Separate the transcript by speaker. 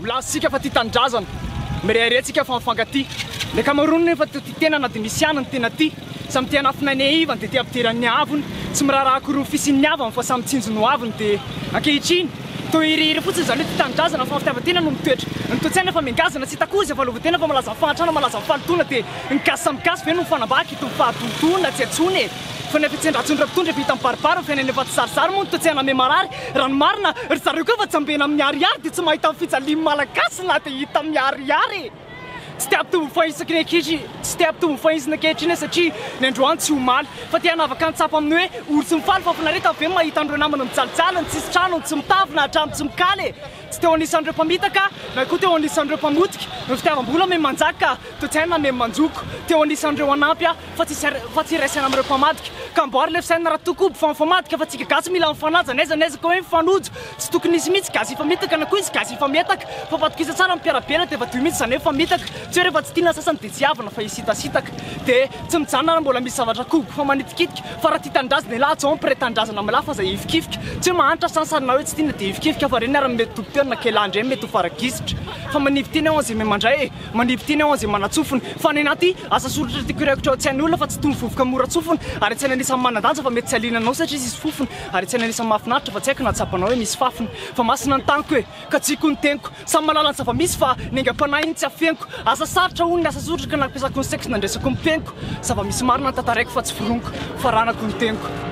Speaker 1: Milaza isika fa tia tanindrazana, mirehareha isika fa mifankatia. Ny ankamaroany nefa toa tia tena na dia misy ihany ny tena tia. Samy te hanafina ny hahivany dia te hampidirany ny haavony. Tsy miraharaha akory ny fisian'ny ny havany fa samy tsinjo ny ho aviny dia ankehitriny toa hirihiry fotsiny izany hoe tia tanindrazana fa ny fitiavan-tena no mitoetra. Ny toe-tsaina efa mihangazana tsy hita koa izay fahaleovantena fa malaza amin'ny fahantrana, malaza amin'ny fahalotoana dia ny gasy samy gasy ve no mifanambaka? Itony fahadontoana tsy antsoina e! Fanahy fitsendratsony ireo mpitondra vita mibaribary amin'ny fiainana efa tsy zarizary moa no toa tsy haname marary. Raha ny marina, ry zareo koa efa tsambena amin'ny ariary dia tsy mahita ny fijalian'ny Malagasy na dia hita miharihary e! Tsy te hampitombo ny fahaizany ankehitriny, tsy te hampitombo ny fahaizany ankehitriny aho satria ny androany tsy omaly fa te hanavaka ny tsapa amin'ny hoe ory sy ny faly fa finaretana ve ny mahita an'ireo namana mijalijaly, ny tsisy trano, ny tsy mitafy na hatramin'ny tsy mikala e! Tsy teo anisan'ireo mpamitaka na koa teo anisan'ireo mpamotika ny fitiavam-bola miha manjaka toe-tsaina miha manjoko. Teo anisan'ireo hanampy aho fa tsy fa tsy hiray saina amin'ireo mpamadika. Ka amboary ilay fisainana raha toa koa mpifa mifamadika fa tsika gasy mila mifanaja n'aiza n'aiza ka hoe mifanojo tsy tokony hisy mihitsy gasy hifamitaka na koa hisy gasy hifamietaka fa fatokisa tsara ny mpiara-belona dia vadio mihitsy izany hoe famitaka tsy hoe rehefa tsy tiana ny sasany dia tsy havana fa hisitasitaka dia tsy mijanona raha mbola misy zavatra koboka fa manitikitika Fa raha tia tanindrazana elah atsoaho mpiray tanindrazana milahy fa za hifikifika Tsy hoe mahantra sansany na hoe tsy tiana dia hifikifika Fa reny ary ny mety tompon-tena na k'elah ndray mety ho fara-gisitra Fa manivy teny aho an'izay miha mandray e Manivy teny aho an'izay manatsofina Fa any anaty asa soratra tiako hiraikitra ao an-tsain'ny olona Fa tsy itony vovoka mora tsofina Ary an-tsaina anisan'ny manan-danja fa mety tsy haliana anao satria tsisy fofona Ary an-tsaina anisan'ny mahafinaritra fa tsy haiko na tsapanao hoe misy fafiny Fa masina ny taniko e Ka tsy hikoa ny teniko Samy mahalala ny zava-misy fa ny aingam-panahy no tsy afeniko Asa sarotra hono ny asa soritra ka nampiasako ny saiko sy nandresako ny peniko Zava-misy marina ny tantaraiko fa tsy foroniko fa ranako ny teniko